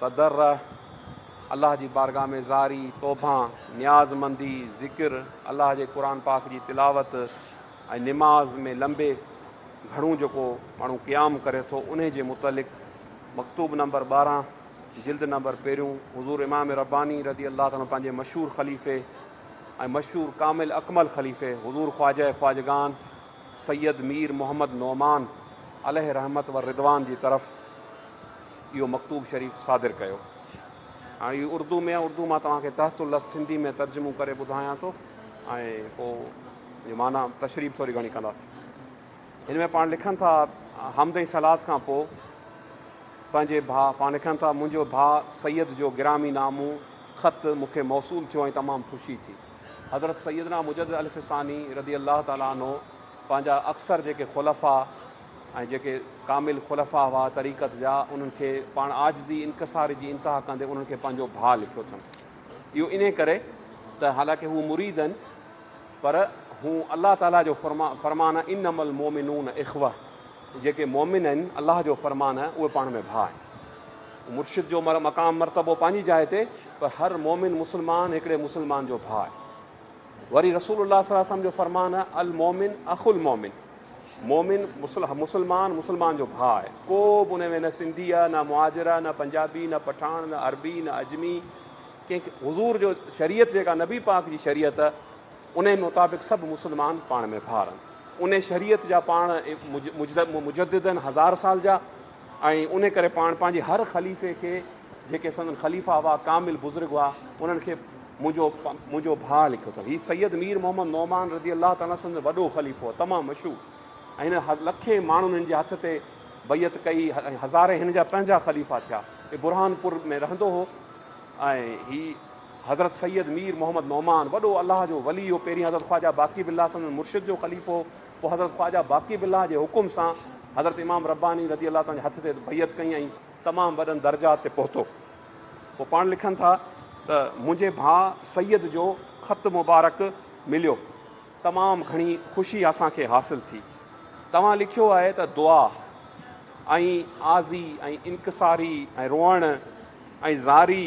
تضرع، الله جي بارگاھ ۾ زاري، توبهان، نياز مندي، ذڪر، الله جي قرآن پاڪ جي تلاوت ۽ نماز ۾ لنبي گهڻو جيڪو ماڻهو قيام ڪري ٿو انهي جي متعلق مڪتوب نمبر ٻارهن جلد نمبر پهريون حضور امام رباني رضي الله عنه پنهنجي مشهور خليفي ۽ مشهور ڪامل اڪمل خليفي حضور خواجه خواجگان سيد مير محمد نعمان عليه رحمت و رضوان جي طرف اهو مڪتوب شريف صادر ڪيو. هاڻي اهو اردو ۾ آهي، اردو مان توهان کي تحت اللفظ سنڌي ۾ ترجمو ڪري ٻڌايان ٿو ۽ پوء جي معنيٰ تشريح ٿوري گهڻي ڪنداسين. هن ۾ پاڻ لکن ٿا حمد ۽ صلات کان پوء پنهنجي ڀاء پاڻ لکن ٿا منهنجو ڀاء سيد جو گرامي نامو خط مون کي موصول ٿيو ۽ تمام خوشي ٿي. حضرت سيدنا مجدد الف ثاني رضي الله تعالٰي عنه پنهنجا اڪثر جيڪي خلفاء، ۽ جيڪي ڪامل خلفاء هئا طريقت جا، انهن کي پاڻ عاجزي انڪساري جي انتها ڪندي انهن کي پنهنجو ڀاء لکيو اٿن. اهو انهي ڪري ته حالانڪه هو مريد هن پر هو الله تعاليٰ جو فرمان انما المومنون اخوة جيڪي مومن آهن الله جو فرمان آهي اهي پاڻ ۾ ڀاء آهن. مرشد جو مقام مرتبو پنهنجي جاء تي پر هر مومن مسلمان هڪڙي مسلمان جو ڀاء آهي. وري رسول الله صلي الله عليه وسلم جو فرمان آهي المومن اخو المومن. مومن، مسلمان، مسلمان جو ڀاء آهي. ڪو به ان ۾ نه سنڌي آهي، نه مهاجر آهي، نه پنجابي، نه پٺاڻ، نه عربي، نه عجمي، ڪنهن کي حضور جو شريعت جيڪا نبي پاڪ جي شريعت انهي مطابق سڀ مسلمان پاڻ ۾ ڀاء رهن. انهي شريعت جا پاڻ مجدد آهن هزار سال جا ۽ انهي ڪري پاڻ پنهنجي هر خليفي کي جيڪي سندن خليفا هئا ڪامل بزرگ هئا انهن کي منهنجو منهنجو ڀاء لکيو اٿم. هي سيد مير محمد نعمان رضي الله تعالٰي عنه سندن وڏو خليفو هو، تمام مشهور ۽ هن لکين ماڻهن هن جي هٿ تي بيعت ڪئي ۽ هزارين هن جا پنهنجا خليفا ٿيا. هي برهان پور ۾ رهندو هو ۽ هي حضرت سيد مير محمد نعمان وڏو الله جو ولي هو، پهرين حضرت خواجه باقي بالله سندن مرشد جو خليفو هو، پوء حضرت خواجه باقي بالله جي حڪم سان حضرت امام رباني رضي الله تعالٰي عنه جي هٿ تي بيعت ڪئي ۽ تمام وڏن درجات تي پهتو. هو پاڻ لکن ٿا ته منهنجي ڀاء سيد جو خط مبارڪ مليو تمام گهڻي خوشي اسان کي حاصل ٿي توهان لکيو آهي ته دعا ۽ آزي ۽ انڪساري ۽ روئڻ ۽ زاري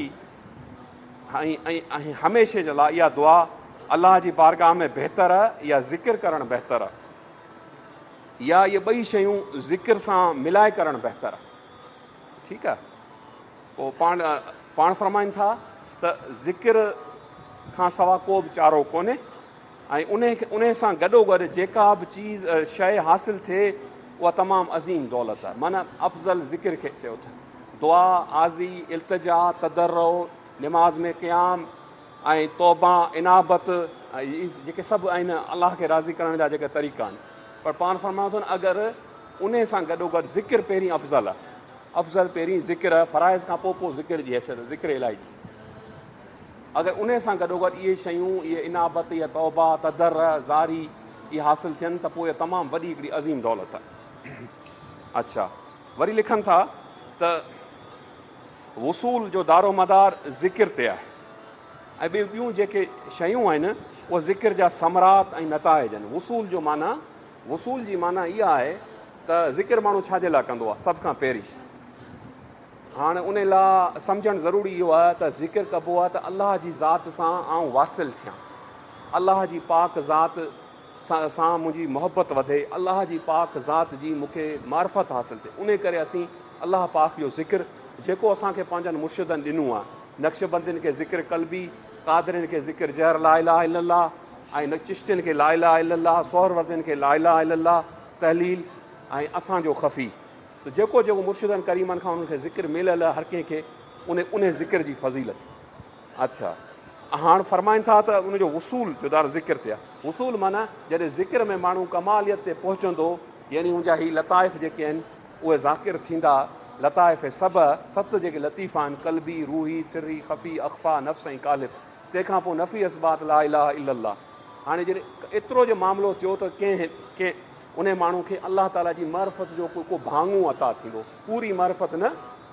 ۽ هميشه جي لاء اها دعا الله جي بارگاهه ۾ بهتر يا ذڪر ڪرڻ بهتر يا اهي ٻئي شيون ذڪر سان ملائي ڪرڻ بهتر ٺيڪ آ پوء پاڻ پاڻ فرمائن ٿا ته ذڪر کان سوا ڪو به چارو ڪونهي ۽ انهي انهي سان گڏو گڏ جيڪا به چيز شيء حاصل ٿئي اها تمام عظيم دولت آهي معنيٰ افضل ذڪر کي چيو اٿن دعا عاضي التجا تضرع نماز ۾ قيام ۽ توبه انابت جيڪي سڀ آهن الله کي راضي ڪرڻ جا جيڪي طريقا آهن پر پاڻ فرمايو اٿن اگر انهيء سان گڏوگڏ ذڪر پهرين افضل، افضل پهرين ذڪر، فرائض کان پوء پوء ذڪر جي حيثيت، ذڪر الاهي جي. اگر انهيء سان گڏوگڏ اهي شيون، اهي انابت، اها توبه، تضرع، زاري، اهي حاصل ٿين ته پوء تمام وڏي هڪڙي عظيم دولت. اڇا. وري لکن ٿا ته وصول جو دارومدار ذڪر تي آهي ۽ ٻيون ٻيون جيڪي شيون آهن اهي ذڪر جا ثمرات ۽ نتائج آهن. وصول جو معنيٰ وصول جي معنيٰ اها آهي ته ذڪر ماڻهو ڇا جي لاء ڪندو آهي؟ سڀ کان پهرين هاڻ ان لاء سمجهڻ ضروري اهو آهي ته ذڪر ڪبو آهي ته الله جي ذات سان آئون واصل ٿيان، الله جي پاڪ ذات سان منهنجي محبت وڌي، الله جي پاڪ ذات جي مون کي معرفت حاصل ٿئي، انهي ڪري اسين الله پاڪ جو ذڪر جيڪو اسان کي پنهنجن مرشدن ڏنو آهي، نقشبندين کي ذڪر قلبي، قادرين کي ذڪر جهر لا اله الا الله ۽ چشتين کي لا اله الا الله، سهروردين کي لا اله الا الله، تحليل ۽ اسان جو خفي ته جيڪو جيڪو مرشدن ڪريمن کان انهن کي ذڪر مليل هر ڪنهن کي ان انهي ذڪر جي فضيلت اڇا هاڻ فرمائن ٿا ته ان جو وصول جو دار ذڪر ٿيا وصول معنيٰ جڏهن ذڪر ۾ ماڻهو ڪماليت تي پهچندو يعني ان جا هي لطائف جيڪي آهن اهي ذاڪر ٿيندا لطائف سبع، ست جيڪي لطيف آهن، قلبي، روحي، سري، خفي، اخفيٰ، نفس ۽ قالب. تنهن کان پوء نفي اثبات لا اله الا الله. هاڻي جڏهن ايترو جو معاملو ٿيو ته ڪنهن ڪنهن انهي ماڻهو کي الله تعاليٰ جي معرفت جو ڪو ڪو ڀاڱو عطا ٿيندو. پوري معرفت نه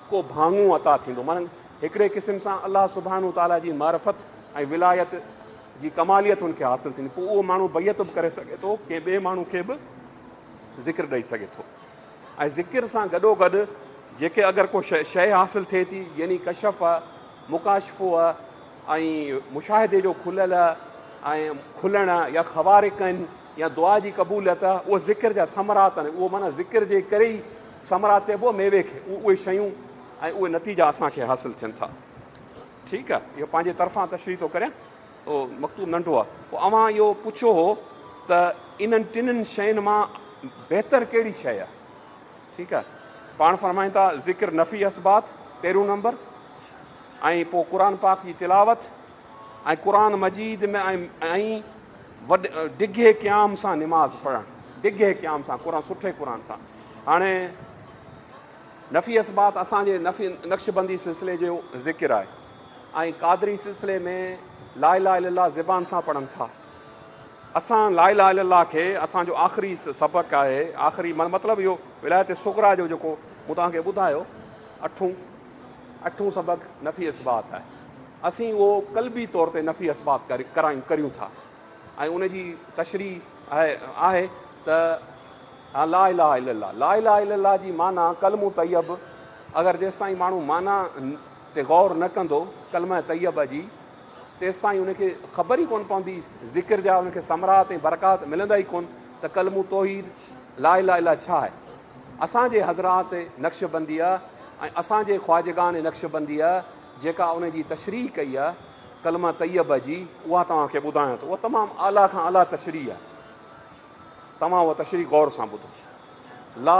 ڪو ڀاڱو عطا ٿيندو. معنيٰ هڪڙي قسم سان الله سبحانه و تعاليٰ جي معرفت ۽ ولايت جي ڪماليت هن کي حاصل ٿيندي. پوء اهو ماڻهو بيعت به ڪري سگهي ٿو، ڪنهن ٻئي ماڻهو کي به ذڪر ڏئي سگهي ٿو. ۽ ذڪر سان گڏوگڏ جيڪي اگر ڪو شيء حاصل ٿئي ٿي يعني ڪشف، مڪاشفوء ۽ مشاهدي جو کليل ۽ کلڻ يا خوارقن يا دعا جي قبوليت اهي ذڪر جا ثمرات آهن اهو معنيٰ ذڪر جي ڪري ئي ثمرات چئبو ميوي کي اهي شيون ۽ اهي نتيجا اسان کي حاصل ٿين ٿا ٺيڪ اهو پنهنجي طرفان تشريح ٿو ڪريان. اهو مڪتوب ننڍو آهي. پوء اوهان اهو پڇو هو ته انهن ٽنهن شين مان بهتر ڪهڙي شيء آهي. ٺيڪ آهي. پاڻ فرمائن ٿا ذڪر نفعي اثبات پهريون نمبر ۽ پوء قرآن پاڪ جي تلاوت ۽ قرآن مجيد ۾ ۽ وڏ ڊگهي قيام سان نماز پڙهڻ ڊگهي قيام سان قرآن سٺي قرآن سان هاڻي نفعي اثبات اسان جي نفعي نقشبندي سلسلي جو ذڪر آهي. ۽ قادري سلسلي ۾ لا اله الا الله زبان سان پڙهن ٿا. اسان لا اله الا الله کي اسان جو آخري سبق آهي، آخري مطلب اهو ولايت صغريٰ جو جيڪو مون توهان کي ٻڌايو اٺون اٺون سبق نفي اثبات آهي، اسين اهو قلبي طور تي نفي اثبات ڪرايون ڪريون ٿا ۽ ان جي تشريح آهي آهي ته لا اله الا الله لا اله الا الله جي معنيٰ ڪلمو طيب اگر جيستائين ماڻهو معنيٰ تي غور نه ڪندو ڪلمه طيبه جي تيستائين ان کي خبر ئي ڪون پوندي ذڪر جا ان کي ثمرات ۽ برڪات ملندا ئي ڪون ته ڪلمو توحيد لا اله الا ڇا آهي اسان جي حضرات نقشبنديء ۽ اسان جي خواجگان نقشبنديء جيڪا ان جي تشريح ڪئي آهي ڪلمه طيبه جي اها توهان کي ٻڌايان ٿو اها تمام اعليٰ کان اعليٰ تشريح آهي توهان اها تشريح غور سان ٻڌو لا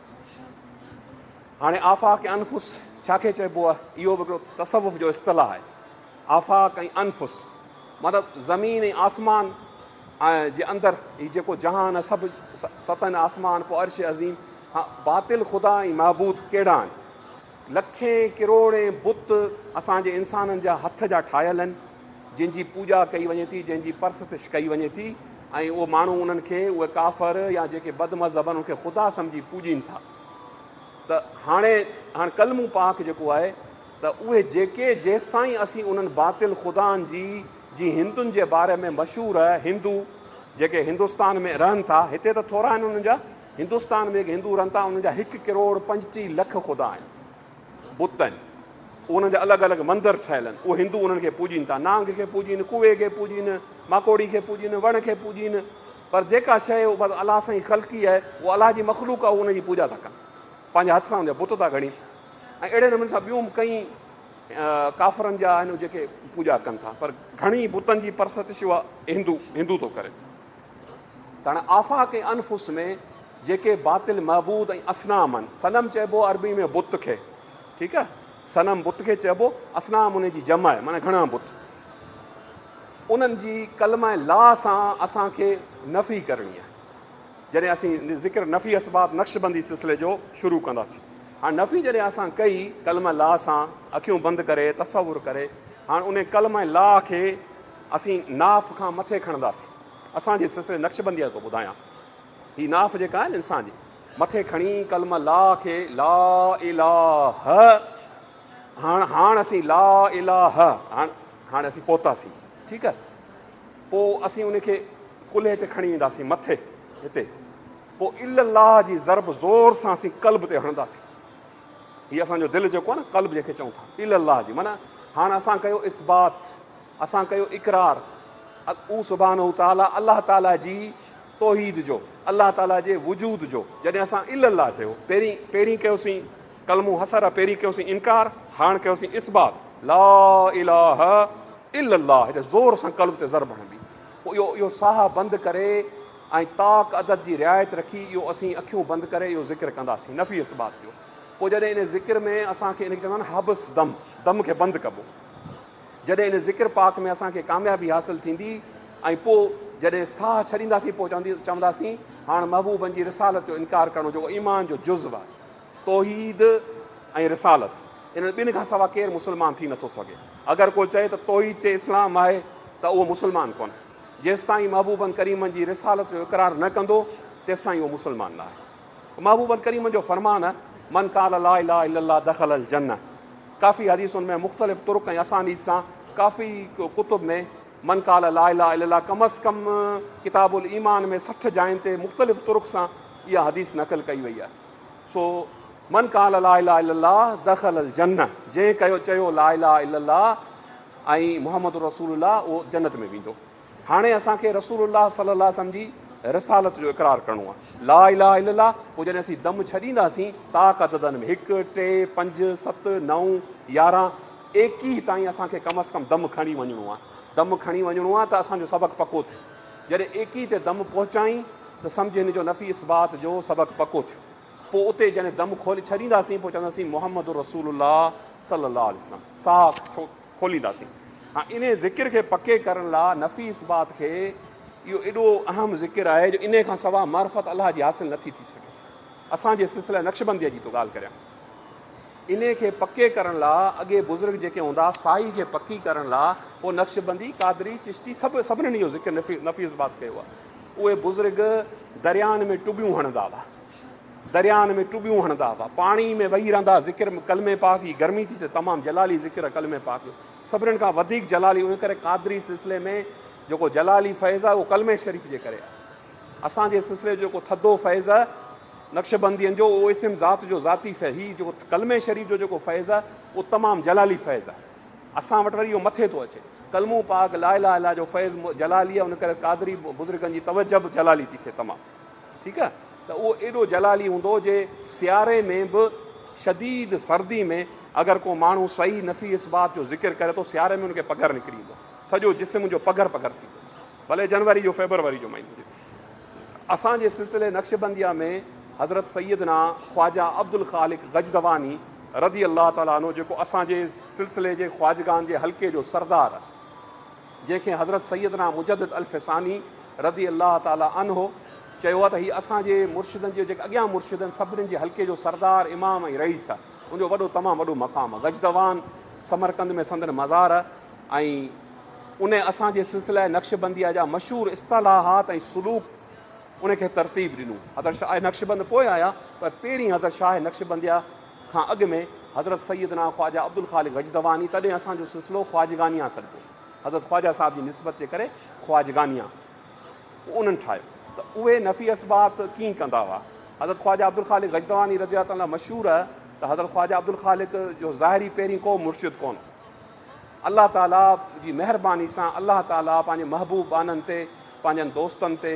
هاڻي آفاق انفس ڇا کي چئبو آهي؟ اهو به هڪڙو تصوف جو اصطلاح آهي. آفاق ۽ انفس مطلب زمين ۽ آسمان ۽ جي اندر هي جيڪو جهان آهي سڀ ستن آسمان پوء عرش عظيم باطل خدا ۽ معبود ڪهڙا آهن؟ لکين ڪروڙين بت اسان جي انسانن جا هٿ جا ٺاهيل آهن، جن جي پوڄا ڪئي وڃي ٿي، جن جي پرستش ڪئي وڃي ٿي ۽ اهي ماڻهو انهن کي، اهي ڪافر يا جيڪي بد مذهب آهن، انهن کي خدا سمجهي پوڄين ٿا ته هاڻي هاڻي ڪلمو پاڪ جيڪو آهي ته اهي جيڪي جيستائين اسين انهن باطل خدائن جي جي هندن جي باري ۾ مشهور هندو جيڪي هندستان ۾ رهن ٿا هتي ته ٿورا آهن انهن جا. هندستان ۾ جيڪي هندو رهن ٿا انهن جا هڪ ڪروڙ پنجٽيهه لک خدا آهن، بت آهن، پوء انهن جا الڳ الڳ مندر ٺهيل آهن، اهي هندو انهن کي پوڄين ٿا، نانگ کي پوڄين، ڪوئي کي پوڄين، ماڪوڙي کي پوڄين، وڻ کي پوڄين، پر جيڪا شيء بس الله سائين خلقي آهي، اها الله جي مخلوق آهي، اهي ان جي پوڄا ٿا ڪن، پنهنجي هٿ سان ان جا بت ٿا گهڙين ۽ اهڙي نموني سان ٻيون به ڪئين ڪافرن جا آهن جيڪي پوڄا ڪن ٿا، پر گهڻي بتن جي پرستش اها هندو هندو ٿو ڪري. تڻ آفاق ۽ انفس ۾ جيڪي باطل معبود ۽ اسنام آهن صنم چئبو عربي ۾ بت کي ٺيڪ آهي صنم بت کي چئبو اسنام ان جي جمع آهي معنی گهڻا بت انهن جي قلم ۽ لا سان اسانکي نفي ڪرڻي آهي جڏهن اسين ذڪر نفي اسباب نقشبندي سلسلي جو شروع ڪنداسين هاڻ نفي جڏهن اسان ڪئي قلم لا سان اکيون بند ڪري تصور ڪري هاڻ ان قلم لا کي اسين ناف کان مٿي کڻنداسين. اسان جي سلسلي نقشبنديء جو ٿو ٻڌايان. هي ناف جيڪا آهي نه انسان جي، مٿي کڻي ڪلمه لا کي لا اله هاڻ هاڻ اسين لا اله هاڻ هاڻ اسين پهتاسين ٺيڪ آهي پو اسين ان کي ڪلهي تي کڻي وينداسين مٿي هتي پو الا الله جي ضرب زور سان اسين قلب تي هڻنداسين هي اسان جو دل جيڪو آهي نه قلب جيڪي چون ٿا الا الله جي معنی هاڻ اسان ڪيو اثبات اسان ڪيو اقرار او سبحانه تعالٰي الله تعالٰي جي توحيد جو، الله تعالٰي جي وجود جو، جڏهن اسان الا الله چيو، پهرين پهرين ڪيوسين ڪلمو حصر، پهرين ڪيوسين انڪار، هاڻ ڪيوسين اثبات، لا اله الا الله هيڏي زور سان قلب تي ضرب هڻبي، پوء اهو اهو ساهه بند ڪري ۽ طاق عدد جي رعايت رکي اهو اسين اکيون بند ڪري اهو ذڪر ڪنداسين نفي اثبات جو، پوء جڏهن ان ذڪر ۾ اسان کي ان کي چوندا آهن حبس دم، دم کي بند ڪبو. جڏهن ان ذڪر پاڪ ۾ اسان کي ڪاميابي حاصل ٿيندي ۽ پوء جڏهن ساهه ڇڏينداسين پوء چوندي چونداسين هاڻ محبوبن جي رسالت جو انڪار ڪرڻو جيڪو ايمان جو جزو آهي توحيد ۽ رسالت انهن ٻن کان سوا ڪير مسلمان ٿي نٿو سگهي اگر ڪو چئي ته توحيد چي اسلام آهي ته اهو مسلمان ڪونهي جيستائين محبوبن ڪريمن جي رسالت جو اقرار نه ڪندو تيستائين اهو مسلمان نه آهي محبوب الڪريم جو فرمان، من قال لا اله الا الله دخل الجنة ڪافي حديثن ۾ مختلف طرق ۽ اسانيد سان ڪافي ڪتب ۾ من قال لا اله الا الله ڪم از ڪم ڪتاب الايمان ۾ سٺ جاين تي مختلف طرق سان اها حديث نقل ڪئي وئي آهي سو من قال لا اله الا الله دخل الجنة جنهن ڪيو چيو لا اله الا الله ۽ محمد رسول الله اهو جنت ۾ ويندو هاڻي اسان کي رسول الله صلي الله عليه وسلم جي رسالت جو اقرار ڪرڻو آهي لا اله الا الله پوء جڏهن اسين دم ڇڏينداسين طاق عددن ۾ هڪ ٽي پنج ست نو يارهن ايڪيهه تائين اسان کي ڪم از ڪم دم کڻي وڃڻو آهي دم کڻي وڃڻو آهي ته اسان جو سبق پڪو ٿيو جڏهن ايڪيهه تي دم پهچائين ته سمجھ هن جو نفي اثبات جو سبق پڪو ٿيو پوء اتي جڏهن دم کولي ڇڏينداسين پوء چونداسين محمد رسول الله صلي الله عليه وسلم ساک ڇو کولينداسين. هاڻ انهيء ذڪر کي پڪي ڪرڻ لاء نفي اثبات کي اهو ايڏو اهم ذڪر آهي جو انهيء کان سواء معرفت الله جي حاصل نه ٿي ٿي سگهي. اسان جي سلسله نقشبنديء جي ٿو ڳالهه ڪريان. انهيء کي پڪي ڪرڻ لاء اڳي بزرگ جيڪي هوندا سائي کي پڪي ڪرڻ لاء پوء نقشبندي، قادري، چشتي سڀ سڀنن اهو ذڪر نفي اثبات ڪيو آهي. اهي بزرگ درياهن ۾ ٽٻيون هڻندا هئا. درياهن ۾ ٽٻيون هڻندا هئا، پاڻي ۾ وهي رهندا هئا، ذڪر ڪلمي پاڪ جي گرمي ٿي ته تمام جلالي ذڪر ڪلمي پاڪ جو سڀنن کان وڌيڪ جلالي ان ڪري قادري سلسلي ۾ جيڪو جلالي فيض آهي اهو ڪلمي شريف جي ڪري آهي اسان جي سلسلي جو جيڪو ٿڌو فيض آهي نقشبندين جو اهو اسم ذات جو ذاتي فيض هي جيڪو ڪلمي شريف جو جيڪو فيض آهي اهو تمام جلالي فيض آهي اسان وٽ وري اهو مٿي ٿو اچي ڪلمو پاڪ لا اله الا جو فيض جلالي آهي ان ڪري قادري بزرگن جي توجه به جلالي ٿي ٿئي تمام ٺيڪ آ ته اهو ايڏو جلالي هوندو جي سياري ۾ به شديد سردي ۾ اگر ڪو ماڻهو صحيح نفي اثبات جو ذڪر ڪري ٿو سياري ۾ ان کي پگهر نڪري ايندو سڄو جسم ان جو پگهر پگهر ٿي ويندو ڀلي جنوري جو فيبروري جو مهينو هجي اسان جي سلسلي نقشبنديه ۾ حضرت سيدنا خواجه عبدالخالق غجدواني رضي الله تعالٰي عنه جيڪو اسان جي سلسلي جي خواجگان جي حلقي جو سردار جنهن کي حضرت سيدنا مجدد الف ثاني رضي الله تعالي عنه چيو آهي ته هي اسان جي مرشدن جي جيڪي اڳيان مرشد آهن سڀنين جي حلقي جو سردار امام ۽ رئيس آهي ان جو وڏو تمام وڏو مقام آهي غجدوان سمرقند ۾ سندن مزار آهي ۽ ان اسان جي سلسله نقشبنديه جا مشهور اصطلاحات ۽ سلوڪ ان کي ترتيب ڏنو حضرت شاهه نقشبند پوء آيا پر پهرين حضرت شاهه نقشبنديه کان اڳ ۾ حضرت سيدنا خواجه عبدالخالق غجدواني تڏهن اسان جو سلسلو خواجگانيان سڏبو حضرت خواجه صاحب جي نسبت جي ڪري خواجگانيان انهن ٺاهيو ته اهي نفي اثبات ڪيئن ڪندا هئا حضرت خواجه عبدالخالق غجدواني رضي الله تعالٰي مشهور ته حضرت خواجه عبدالخالق جو ظاهري پهرين ڪو مرشد ڪونه الله تعالٰي جي مهرباني سان الله تعالٰي پنهنجي محبوب بانن تي پنهنجن دوستن تي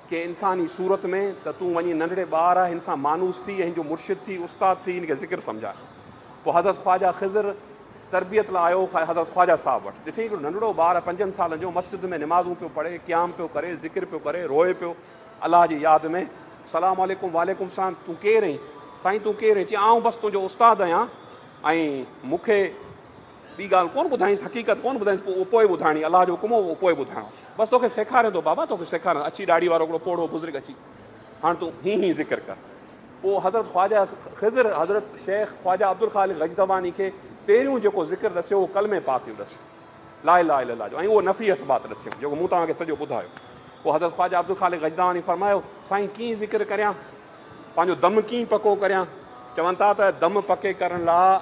ڪنهن انسان جي صورت ۾ ته تون وڃي ننڍڙي ٻار هن سان مانوس ٿي ۽ هن جو مرشد ٿي، استاد ٿي، هن کي ذڪر سمجهاء. پوء حضرت خواجه خضر تربيت لاء آيو حضرت خواجه صاحب وٽ. ڏٺئي هڪڙو ننڍڙو ٻار پنجن سالن جو مسجد ۾ نمازون پيو پڙهي، قيام پيو ڪري، ذڪر پيو ڪري، روئي پيو الله جي ياد ۾، سلام عليڪم، وعليڪم السلام، تون ڪير اهين؟ سائين تون ڪير اهين؟ چيائين آئون بس تنهنجو استاد آهيان ۽ مون کي. ٻي ڳالهه ڪونه ٻڌائينس، حقيقت ڪونه ٻڌائينس، پوء اهو پوء ٻڌائڻي، الله جو حڪم هو اهو پوء ٻڌائڻو. بس توکي سيکاريان ٿو بابا، توکي سيکاريان، اڇي ڏاڙهي وارو هڪڙو پوڙهو بزرگ اچي، هاڻ تون هي هي ذڪر ڪر. پوء حضرت خواجه خضر، حضرت شيخ خواجه عبدالخالق غجدواني کي پهريون جيڪو ذڪر ڏسيو اهو ڪلمي پاڪ جو ڏسيو، لا اله الا الله جو، ۽ اهو نفي اثبات ڏسيم، جيڪو مون توهان کي سڄو ٻڌايو. پوء حضرت خواجه عبدالخالق غجدواني فرمايو، سائين ڪيئن ذڪر ڪريان، پنهنجو دم ڪيئن پڪو ڪريان، چون ٿا ته دم پڪي ڪرڻ لا،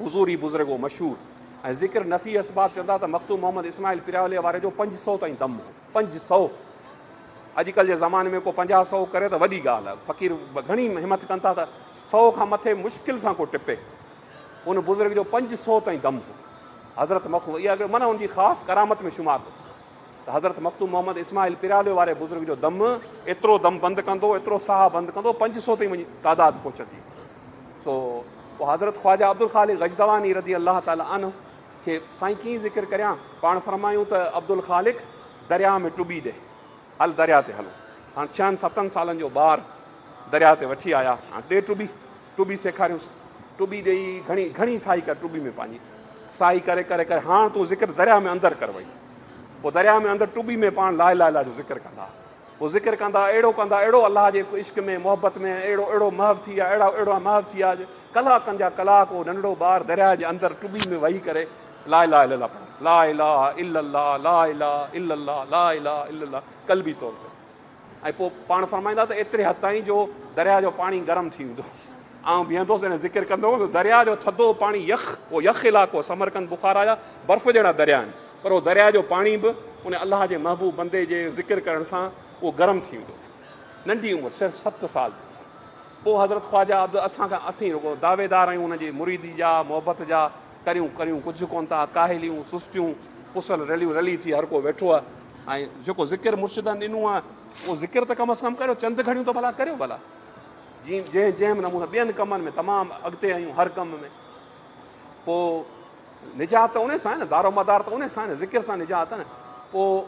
حضور ئي بزرگ هو مشهور ۽ ذڪر نفي اسباب چوندا ته مخدوم محمد اسماعيل پراولي واري جو پنج سؤ تائين دم هو پنج سؤ اڄڪلھ جي زماني ۾ ڪو پنجاهه سؤ ڪري ته وڏي ڳالھ آهي فقير گهڻي همٿ ڪن ٿا ته سؤ کان مٿي مشڪل سان ڪو ٽپي ان بزرگ جو پنج سؤ تائين دم هو حضرت مخدوم اها معنی ان جي خاص ڪرامت ۾ شمار ٿو ٿي ته حضرت مخدوم محمد اسماعيل پراولي واري بزرگ جو دم ايترو دم بند ڪندو ايترو ساهه بند ڪندو پنج سؤ تائين وڃي تعداد پهچندي سو پوء حضرت خواجه عبدالخالق غجدواني رضي الله تعالٰي عنه کي سائين ڪيئن ذڪر ڪريان پاڻ فرمايون ته عبدالخالق درياء ۾ ٽٻي ڏي هل درياء تي هلو هاڻ ڇهن ستن سالن جو ٻار درياء تي وٺي آيا هاڻ ڏي ٽٻي ٽٻي سيکاريوس ٽٻي ڏيئي گهڻي گهڻي سائي ڪر ٽٻي ۾ پنهنجي سائي ڪري ڪري ڪري هاڻ تون ذڪر درياء ۾ اندر ڪر وئي پوء درياء ۾ اندر ٽٻي ۾ پاڻ لا اله الا جو ذڪر ڪندا هو ذڪر ڪندا، اهڙو ڪندا، اهڙو الله جي عشق ۾، محبت ۾، اهڙو اهڙو محو ٿي ويا، اهڙا اهڙا محو ٿي ويا جو ڪلاڪن جا ڪلاڪ اهو ننڍڙو ٻار درياء جي اندر ٽٻي ۾ وهي ڪري لا اله الا الله پڙهندو، لا اله الا الله، لا اله الا الله، لا اله الا الله قلبي طور تي ۽ پوء پاڻ فرمائيندا ته ايتري حد تائين جو درياء جو پاڻي گرم ٿي ويندو. آئون بيهندس ۽ ذڪر ڪندو هوس، درياء جو ٿڌو پاڻي يخ، اهو يخ علائقو سمرقند، بخارا جا برف جهڙا دريا آهن، پر اهو درياء جو پاڻي به ان الله جي محبوب بندي جي ذڪر ڪرڻ سان اهو گرم ٿي ويندو هو. ننڍي عمر صرف ست سال پوء حضرت خواجه عبد اسان کان اسين رڳو دعويدار آهيون ان جي مريدي جا، محبت جا، ڪريون ڪريون ڪجهه ڪونه ٿا، ڪاهليون، سستيون، پسل رليون رلي ٿي هر ڪو ويٺو آهي ۽ جيڪو ذڪر مرشدن ڏنو آهي اهو ذڪر ته ڪم از ڪم ڪريو چند گهڙيون ته ڀلا ڪريو ڀلا. جيئن جنهن جنهن نموني ٻين ڪمن ۾ تمام اڳتي آهيون هر ڪم ۾ پوء نجات ته ان سان آهي نه دار و مدار ته ان سان آهي نه ذڪر سان نجات آهي نه پوء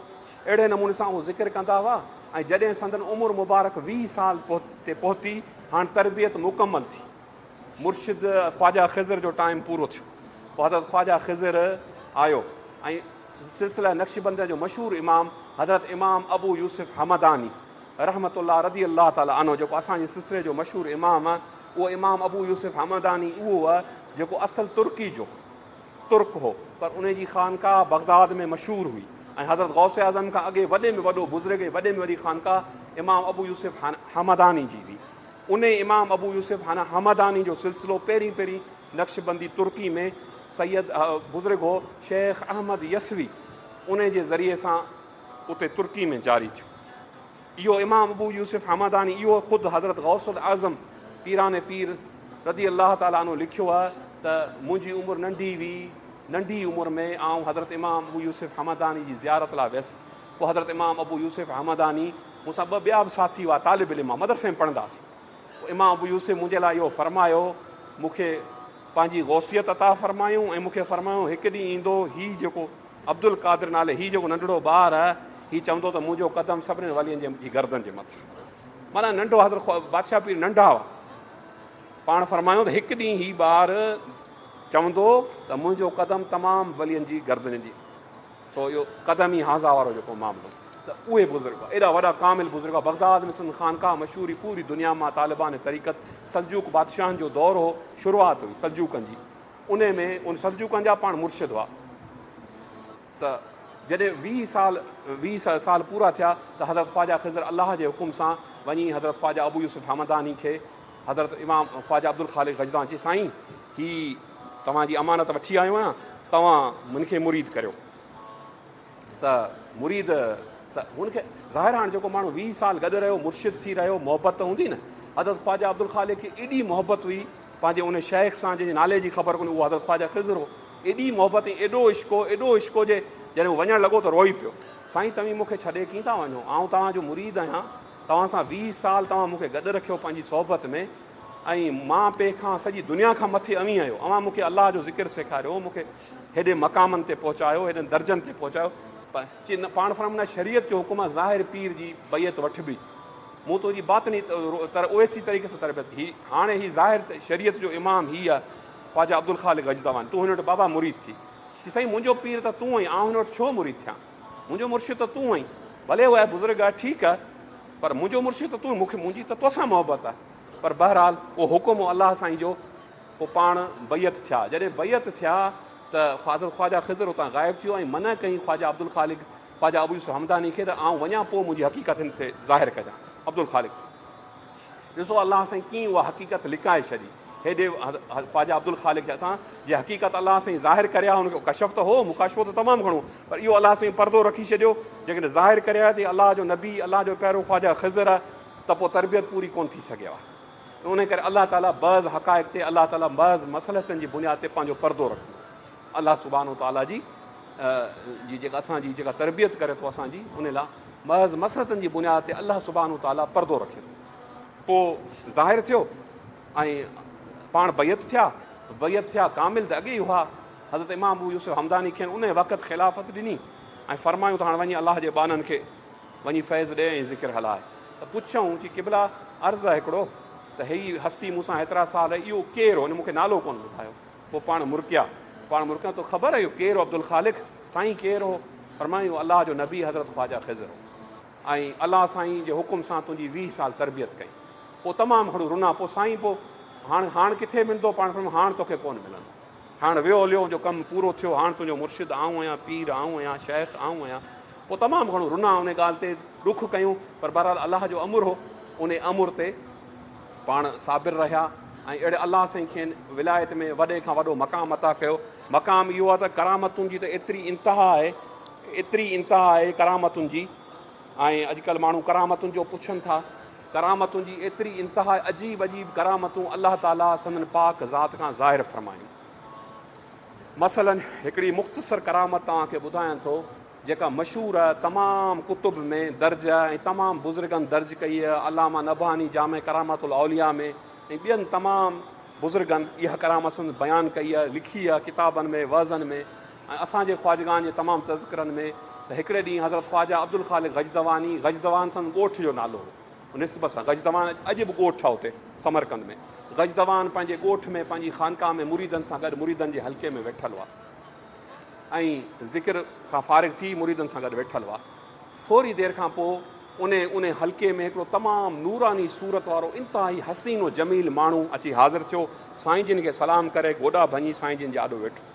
اهڙي نموني سان اهو ذڪر ڪندا هئا ۽ جڏهن سندن عمر مبارڪ ويهه سال تي پهتي هاڻ تربيت مڪمل ٿي مرشد خواجه خضر جو ٽائيم پورو ٿيو پوء حضرت خواجه خضر آيو ۽ سلسله نقشبنديان جو مشهور امام حضرت امام ابو يوسف حمداني رحمة الله رضي الله تعالٰي عنه جيڪو اسان جي سلسلي جو مشهور امام اهو امام ابو يوسف همداني اهو هو جيڪو اصل ترڪي جو ترڪ هو پر ان جي خانقاهه بغداد ۾ مشهور هئي ۽ حضرت غوث اعظم کان اڳي وڏي ۾ وڏو بزرگ ۽ وڏي ۾ وڏي خانقاهه امام ابو يوسف حمداني جي هئي ان امام ابو يوسف حنا حمداني جو سلسلو پهرين پهرين نقشبندي ترڪي ۾ سيد بزرگ هو شيخ احمد يسوي ان جي ذريعي سان اتي ترڪي ۾ جاري ٿيو. اهو امام ابو يوسف همداني اهو خود حضرت غوث الاعظم پيران پير رضي الله تعالٰي عنه لکيو آهي ته منهنجي عمر ننڍي هئي ننڍي عمر ۾ آئون حضرت امام ابو يوسف همداني جي زيارت لاء ويس پوء حضرت امام ابو يوسف همداني مون سان ٻه ٻيا به ساٿي هئا طالب علم مدرسي ۾ پڙهندا هئاسين پوء امام ابو يوسف منهنجي لاء اهو فرمايو مون کي پنهنجي غوثيت عطا فرمايون ۽ مون کي فرمايون هڪ ڏينهن ايندو هي جيڪو عبدالقادر نالي هي جيڪو ننڍڙو ٻار آهي، هي چوندو ته منهنجو قدم سڀنين والين جي جي گردن جي مٿان. معنيٰ ننڍو حضرت خو بادشاهه پير ننڍا هئا. پاڻ فرمايون ته هڪ ڏينهن هي ٻار چوندو ته منهنجو قدم تمام ولين جي گردن جي سو اهو قدم ئي هانزا وارو جيڪو معاملو ته اهي بزرگ ايڏا وڏا ڪامل بزرگ بغداد ۾ سندن خانقاهه مشهور هئي پوري دنيا مان طالبان طريقت سلجوق بادشاهن جو دور هو شروعات هئي سلجوقن جي انهي ۾ ان سلجوقن جا پاڻ مرشد هئا ته جڏهن ويهه سال ويهه سال پورا ٿيا ته حضرت خواجه خضر الله جي حڪم سان وڃي حضرت خواجه ابو يوسف حمداني کي حضرت امام خواجه عبدالخالق غجدان چي سائين هي توهان جي امانت وٺي آيو آهيان توهان من کي مريد ڪريو ته مريد ته هن کي ظاهر هاڻ جيڪو ماڻهو ويهه سال گڏ رهيو مرشد ٿي رهيو محبت ته هوندي نه حضرت خواجه عبدالخالق کي ايڏي محبت هئي پنهنجي ان شيخ سان جنهن جي نالي جي خبر ڪونهي اهو حضرت خواجه خضر هو ايڏي محبت ۽ ايڏو عشق هو ايڏو عشق هو جي جڏهن هو وڃڻ لڳو ته روئي پيو سائين توهين مون کي ڇڏي ڪين ٿا وڃو آئون توهان جو مريد آهيان توهان سان ويهه سال توهان مون کي گڏ رکيو پنهنجي صحبت ۾ ۽ مان پي کان سڄي دنيا کان مٿي اوهين آهيو اوهان مون کي الله جو ذڪر سيکاريو مون کي هيڏي مقامن تي پهچايو، هيڏن درجن تي پهچايو. چي نه پاڻ فرمائن نه شريعت جو حڪم آ، ظاهر پير جي بيعت وٺبي. مون تنهنجي باطني طرح اويسي طريقي سان تربيت ڪئي. هي هاڻي هي ظاهر شريعت جو امام هي آ، خواجه عبدالخالق غجدواني. تون هن وٽ بابا مريد ٿي. چي سائين منهنجو پير ته تون آهين، آئون هن وٽ ڇو مريد ٿيان؟ منهنجو مرشد ته تون آهين. ڀلي هو آهي بزرگ آهي ٺيڪ آهي، پر منهنجو مرشد ته تون آهين، مون کي منهنجي ته توسان محبت آهي. پر بهرحال اهو حڪم هو الله سائين جو پوء پاڻ بيعت ٿيا. جڏهن بيعت ٿيا ته فاضل خواجه خضر اتان غائب ٿي ويو ۽ منع ڪيائين خواجه عبدالخالق خواجه ابو يوسف همداني کي ته آئون وڃان پوء منهنجي حقيقت هن تي ظاهر ڪجان. عبدالخالق ٿي ڏسو الله سائين ڪيئن اها حقيقت لڪائي ڇڏي. هيڏي خواجه عبدالخالق جي هٿان جي حقيقت الله سائين ظاهر ڪري ها ان کي ڪشف ته هو مڪاشفو ته تمام گهڻو پر اهو الله سائين پردو رکي ڇڏيو جيڪڏهن ظاهر ڪري ها ته هي الله جو نبي الله جو پيارو خواجه خضر ته پوء تربيت پوري ڪونه ٿي سگهي ها. انهيء ڪري الله تعاليٰ بعض حقائق تي الله تعاليٰ بعض مصلحتن جي بنياد تي پنهنجو پردو رکندو آهي. الله سبحانه وتعاليٰ جي جي جيڪا اسان جي جيڪا تربيت ڪري ٿو اسان جي ان لاء بعض مصلحتن جي بنياد تي الله سبحانه وتعاليٰ پردو رکي ٿو. پوء ظاهر ٿيو ۽ پاڻ بيعت ٿيا، بيعت ٿيا ڪامل ته اڳي ئي هئا. حضرت امام ابو يوسف همداني کين انهيء وقت خلافت ڏني ۽ فرمايون ته هاڻ وڃي الله جي ٻانهن کي وڃي فيض ڏي ۽ ذڪر هلاء. ته پڇيائون چي قبلا! عرض آهي هڪڙو ته هيء هستي مون سان هيترا سال رهي، اهو ڪير هو؟ هن مون کي نالو ڪونه ٻڌايو. پوء پاڻ مرڪيا، پاڻ مرڪيا تو خبر اهو ڪير هو عبدالخالق؟ سائين ڪير هو؟ فرمايائون اهو الله جو نبي حضرت خواجه خضر هو ۽ الله سائين جي حڪم سان تنهنجي ويهه سال تربيت ڪئي. پوء تمام گهڻو رنا. پوء سائين پوء هاڻ هاڻ ڪٿي ملندو؟ پاڻ فرمايائون هاڻ توکي ڪونه ملندو. هاڻ ويو هليو جو ڪم پورو ٿيو، هاڻ تنهنجو مرشد آئون آهيان، پير آئون آهيان، شيخ آئون آهيان. پوء تمام گهڻو رنا، ان ڳالهه تي ڏک ڪيون، پر بهرحال الله جو امر هو، ان امر تي پاڻ صابر رهيا ۽ اهڙي الله سائين کين ولايت ۾ وڏي کان وڏو مقام عطا ڪيو. مقام اهو آهي ته ڪرامتن جي ته ايتري انتها آهي، ايتري انتها آهي ڪرامتن جي ۽ اڄڪلهه ماڻهو ڪرامتن جو پڇن ٿا. ڪرامتن جي ايتري انتها عجيب عجيب ڪرامتون الله تعاليٰ سندن پاڪ ذات کان ظاهر فرمائين. مثلاً هڪڙي مختصر ڪرامت توهان کي ٻڌايان ٿو جيڪا مشهور تمام ڪتب ۾ درج ۽ تمام بزرگن درج ڪئي علامه نبهاني جامع ڪرامات الاولياء ۾ ۽ ٻين تمام بزرگن اها ڪرامت سندن بيان ڪئي لکي ڪتابن ۾ وعظن ۾ ۽ اسان جي خواجگاهن جي تمام تذڪرن ۾ ته هڪڙي ڏينهن حضرت خواجه عبدالخالق غجدواني، غجدوان سندن ڳوٺ جو نالو هو، نسبت سان غجدوان اڄ به ڳوٺ آهي اتي سمرقند ۾، غجدوان پنهنجي ڳوٺ ۾ پنهنجي خانقاهه ۾ مريدن سان گڏ مريدن جي حلقي ۾ ويٺل هئا ۽ ذڪر کان فارغ ٿي مريدن سان گڏ ويٺل هئا ٿوري دير کان پوء انهي انهي حلقي ۾ هڪڙو تمام نوراني صورت وارو انتهائي حسين و جميل ماڻهو اچي حاضر ٿيو سائين جن کي سلام ڪري گوڏا ڀڃي سائين جن جي آڏو ويٺو.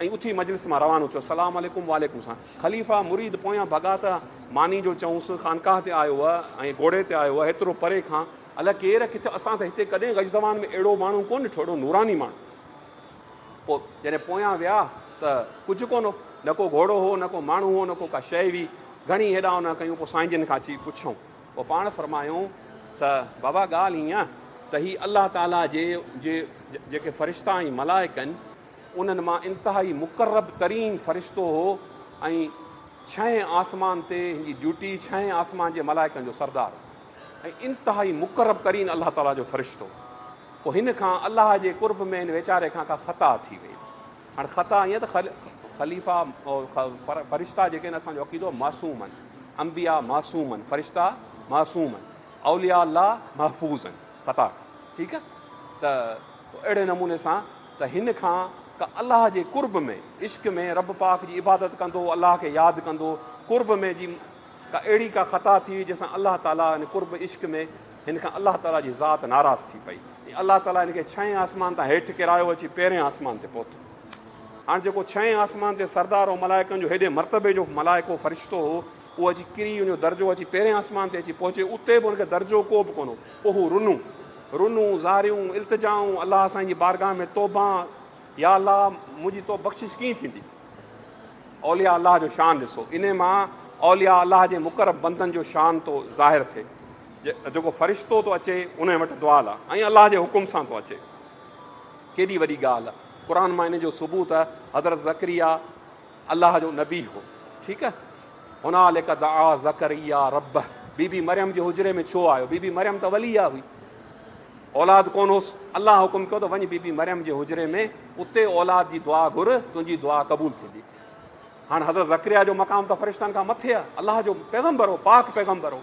۽ اٿي مجلس مان روانو ٿيو. سلام عليڪم وعليڪم سان خليفه مريد پويان ڀڳا ته ماني جو چئونس خانقاهه تي آيو هئه ۽ گهوڙي تي آيو هئه هيترو پري کان الاء ڪير ڪٿ اسان ته هتي ڪڏهن غجدوان ۾ اهڙو ماڻهو ڪونه ڏٺو اهڙو نوراني ماڻهو پوء جڏهن پويان ويا ته ڪجهه ڪونه هو نه ڪو گهوڙو هو نه ڪو ماڻهو هو نه ڪو ڪا شئي هئي گهڻي هيڏا هوڏا ڪيون پوء سائين جن کان اچي پڇيون پوء پاڻ فرمايون ته بابا ڳالهه هيئن ته هي الله تعاليٰ جي جي جيڪي فرشتا ۽ ملائڪ آهن انهن مان انتهائي مقرب ترين فرشتو هو ۽ ڇهين آسمان تي هن جي ڊيوٽي ڇهين آسمان جي ملائڪن جو سردار هو ۽ انتهائي مقرب ترين الله تعاليٰ جو فرشتو پوء هن کان الله جي قرب ۾ هن ويچاري کان ڪا خطا ٿي وئي هاڻي خطا ائين ته خليفا فرشتا جيڪي آهن اسانجو عقيدو معصوم آهن انبيا معصوم آهن فرشتا معصوم آهن اوليا الله محفوظ آهن خطا ٺيڪ آهي ته اهڙي نموني سان ته هن کان ڪا الله جي قرب ۾ عشق ۾ رب پاڪ جي عبادت ڪندو الله کي ياد ڪندو قرب ۾ جي ڪا اهڙي ڪا خطا ٿي جنهن سان الله تعالي يعني قرب عشق ۾ هن کان الله تعالي جي ذات ناراض ٿي پئي ۽ الله تعالي هن کي ڇهين آسمان تان هيٺ ڪيرايو اچي پهرين آسمان تي پهتو هاڻ جيڪو ڇهين آسمان تي سردار هو ملائڪن جو هيڏي مرتبي جو ملائڪو فرشتو هو هو اچي ڪري ان جو درجو اچي پهرين آسمان تي اچي پهچي اتي به ان کي درجو ڪو به ڪونه هو پوء هو رنون رنون زاريون التجائون الله سائين جي بارگاهه ۾ توبان يا الله منهنجي تو بخشش ڪيئن ٿيندي اولياء الله جو شان ڏسو ان مان اولياء الله جي مقرب بندن جو شان تو ظاهر ٿئي جيڪو فرشتو تو اچي ان وٽ دعا لا ۽ الله جي حڪم سان تو اچي ڪيڏي وڏي ڳالهه قرآن مان ان جو ثبوت حضرت ذڪريا الله جو نبي هو ٺيڪ آهي هنالڪ دعا زڪريا ربه بي بي مريم جي حجري ۾ ڇو آيو بي بي مريم ته وليا هئي اولاد ڪون هوس الله حڪم ڪيو ته وڃ بي بي مريم جي حجري ۾ اتي اولاد جي دعا گهر تنهنجي دعا قبول ٿيندي هاڻ حضرت زڪريا جو مقام ته فرشتن کان مٿي آهي الله جو پيغمبر هو پاڪ پيغمبر هو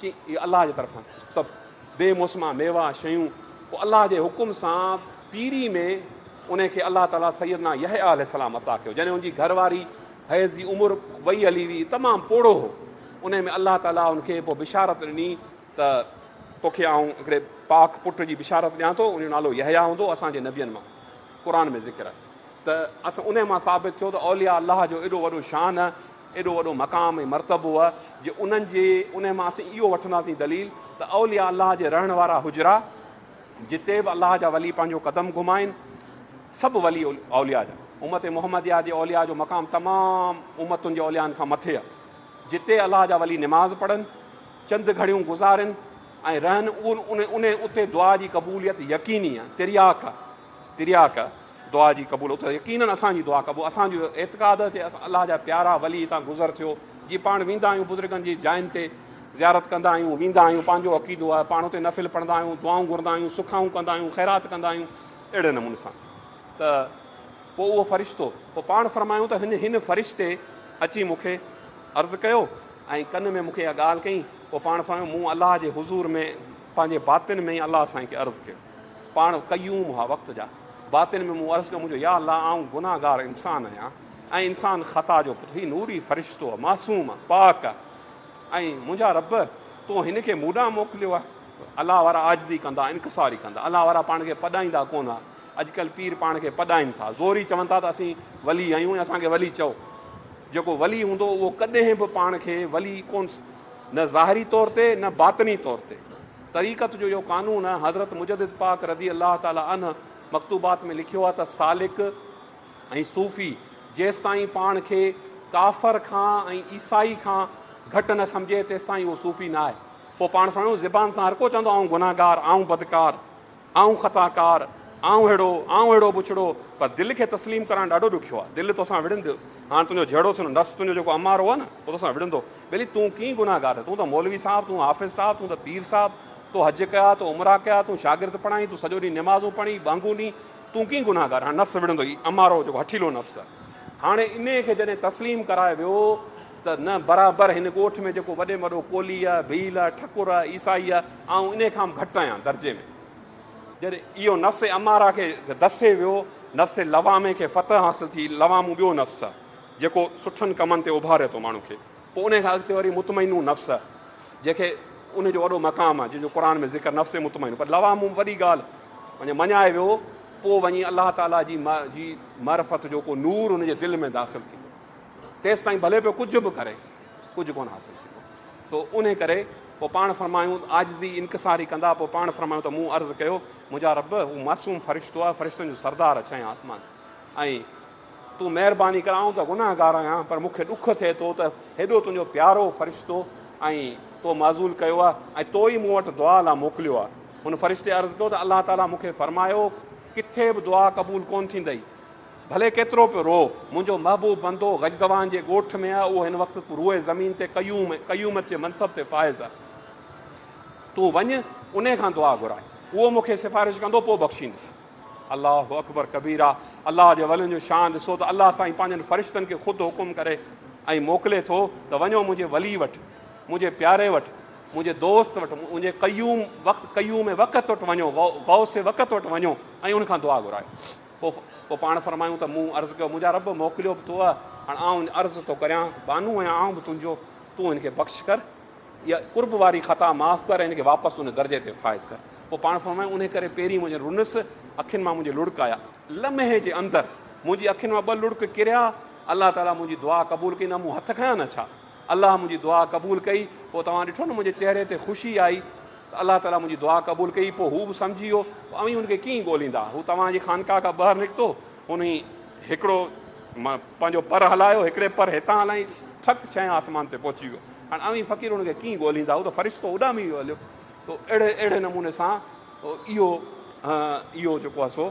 چي اهي الله جي طرفان سڀ بي موسما ميوا شيون پوء الله جي حڪم سان پيري ۾ انهي کي الله تعالي سيدنا يحيٰ عليه السلام عطا ڪيو جڏهن ان جي گهر واري حيض جي عمر وئي هلي وئي تمام پوڙهو هو انهي ۾ الله تعالي ان کي پوء بشارت ڏني ته توکي آئون هڪڙي پاڪ پٽ جي بشارت ڏيان ٿو ان جو نالو يحيٰ هوندو اسان جي نبين مان قرآن ۾ ذڪر آهي ته اسان انهي مان ثابت ٿيو ته اولياء الله جو ايڏو وڏو شان ايڏو وڏو مقام ۽ مرتبو هو جو انهن جي انهي مان اسين اهو وٺنداسين دليل ته اولياء الله جي رهڻ وارا حجرا جتي به الله جا ولي پنهنجو قدم گهمائين سڀ ولي اولياء جا امت محمديه جي اولياء جو مقام تمام امتن جي اوليائن کان مٿي آهي جتي الله جا ولي نماز پڙهن چند گهڙيون گذارن ۽ رهن ان ان اتي دعا جي قبوليت يقيني آهي ترياق ترياق دعا جي قبول اتي يقينن اسان جي دعا قبول اسان جو اعتقاد آهي تي اسان الله جا پيارا ولي هتان گذر ٿيو جي پاڻ ويندا آهيون بزرگن جي جاين تي زيارت ڪندا آهيون ويندا آهيون پنهنجو عقيدو آهي پاڻ اتي نفل پڙهندا آهيون دعائون گهرندا آهيون سکائون ڪندا آهيون خيرات ڪندا آهيون اهڙي نموني سان ته پوء اهو فرشتو پوء پاڻ فرمايو ته هن هن فرشتي اچي مونکي عرض ڪيو ۽ ڪن ۾ مونکي اها ڳالهه ڪئي پوء پاڻ فرمايو مون الله جي حضور ۾ پنهنجي باطن ۾ الله سائين کي عرض ڪيو پاڻ قيوم هئا وقت جا. باطن ۾ مون عرض ڪيو منهنجو يا الله آئون گناهگار انسان آهيان ۽ انسان خطا جو پٽ هي نوري فرشتو آهي معصوم آهي پاڪ آهي ۽ منهنجا رب تو هن کي مون ڏانهن موڪليو آهي الله وارا عاجزي ڪندا انڪساري ڪندا الله وارا پاڻ کي پڏائيندا ڪونه ها اڄڪلهه پير پاڻ کي پڏائين ٿا زوري چون ٿا ته اسين ولي آهيون ۽ اسان کي ولي چئو جيڪو ولي هوندو اهو ڪڏهن به پاڻ کي ولي ڪون نه ظاهري طور تي نه باطني طور تي طريقت جو اهو قانون آهي، حضرت مجدد پاڪ رضي الله تعاليٰ عنه مڪتوبات ۾ لکيو آهي ته سالڪ ۽ صوفي جيستائين پاڻ کي ڪافر کان ۽ عيسائي کان گهٽ نه سمجهي تيستائين اهو صوفي نه آهي. پوء پاڻ سان زبان سان هرڪو چوندو آئون گنهگار، آئون بدڪار. آئون خطا ڪار، آئون اهڙو، آئون اهڙو بڇڙو، پر دل کي تسليم ڪرڻ ڏاڍو ڏکيو آهي. دل توسان وڙهندو. هاڻ تنهنجو جهيڙو ٿيو نه، نفس تنهنجو جيڪو امارو آهي نه، اهو توسان وڙهندو. ٻيلي تون ڪيئي گنهگار آهين؟ تون ته مولوي صاحب، تون حافظ صاحب، تون ته پير صاحب، تو حج ڪيا، تو عمرا ڪيا، تون شاگرد پڙهائين، تون سڄو ڏينهن نمازون پڙهين، ٻانگون ڏين، تون ڪيئي گنهگار آهين؟ هاڻ نفس وڙهندو، هي امارو جيڪو هٺيلو نفس آهي. هاڻي انهيء کي جڏهن تسليم ڪرائي ويو، ته نه برابر هن ڳوٺ ۾ جيڪو وڏي ۾ وڏو ڪولهي آ، ڀيل آ، ٺڪر آ، عيسائي آ، آئون انهي کان به گهٽ آهيان درجي ۾. جڏهن اهو نفس اماره کي دسي ويو، نفس لوامي کي فتح حاصل ٿي، لوامو ٻيو نفس آ، جيڪو سٺن ڪمن تي اڀاري ٿو ماڻهو کي. پوء انهي کان اڳتي وري مطمئنو نفس آ، جنهن کي انهي جو وڏو مقام آ، جنهن جو قرآن ۾ ذڪر نفس مطمئنو پر لوامو ۾ وڏي ڳالهه وڃي مڃائي ويو، پوء وڃي الله تعاليٰ جي جي معرفت جو ڪو نور ان جي دل ۾ داخل ٿيندو. تيستائين ڀلي پيو ڪجهه به ڪري ڪجهه ڪونه حاصل ٿيندو سو انهي ڪري پوء پاڻ فرمايون عاجزي انڪساري ڪندا پوء پاڻ فرمايون ته مون عرض ڪيو منهنجا رب هو معصوم فرشتو آهي فرشتن جو سردار ڇهين آسمان ۽ تون مهرباني ڪر آئون ته گناهگار آهيان پر مونکي ڏک ٿئي ٿو ته هيڏو تنهنجو پيارو فرشتو ۽ تو معذول ڪيو آهي ۽ تو ئي مون وٽ دعا لاء موڪليو آهي هن فرشتي عرض ڪيو ته الله تعاليٰ مونکي فرمايو ڪٿي به دعا قبول ڪونه ٿيندئي ڀلي ڪيترو پيو روء، منهنجو محبوب بندو غجدوان جي ڳوٺ ۾ آهي، اهو هن وقت روئي زمين تي قيوم، قيومت جي منصب تي فائز آهي. تون وڃ، انهي کان دعا گهرائين. اهو مون کي سفارش ڪندو، پوء بخشيندس. الله اڪبر ڪبيرا، الله جي ولين جو شان ڏسو ته الله سائين پنهنجن فرشتن کي خود حڪم ڪري ۽ موڪلي ٿو ته وڃو منهنجي ولي وٽ، منهنجي پياري وٽ، منهنجي دوست وٽ، منهنجي قيوم، وقت، قيوم وقت وٽ وڃو، غوث وقت وٽ وڃو ۽ ان کان دعا گهرايو. پوء پوء پاڻ فرمايون ته مون عرض ڪيو، منهنجا رب! موڪليو به تو هاڻ آئون عرض ٿو ڪريان، بانو ۽ آئون به تنهنجو، تون هن کي بخش ڪر، اها قرب واري خطا معاف ڪر ۽ هن کي واپس ان درجي تي فائز ڪر. پوء پاڻ فرمايون، انهيء ڪري پيرين منهنجن رنس اکين مان منهنجي لڙڪ آيا. لمحي جي اندر منهنجي اکين مان ٻه لڙڪ ڪريا. الله تعاليٰ منهنجي دعا قبول ڪئي نه مون هٿ کنيا نه ڇا؟ الله منهنجي دعا قبول ڪئي پوء توهان ڏٺو نه منهنجي چهري تي خوشي آئي ته الله تعاليٰ منهنجي دعا قبول ڪئي پوء هو به سمجهي ويو ته اوهين هن کي ڪيئن ڳوليندا هو توهان جي خانقاهه کان ٻاهر نڪتو هن هڪڙو پنهنجو پر هلايو هڪڙي پر هتان هلائين ٺڪ ڇهين آسمان تي پهچي ويو هاڻ اوهين فقير هن کي ڪيئن ڳوليندا هو ته فرشتو اڏامي ويو هليو سو اهڙي اهڙي نموني سان اهو اهو جيڪو آهي سو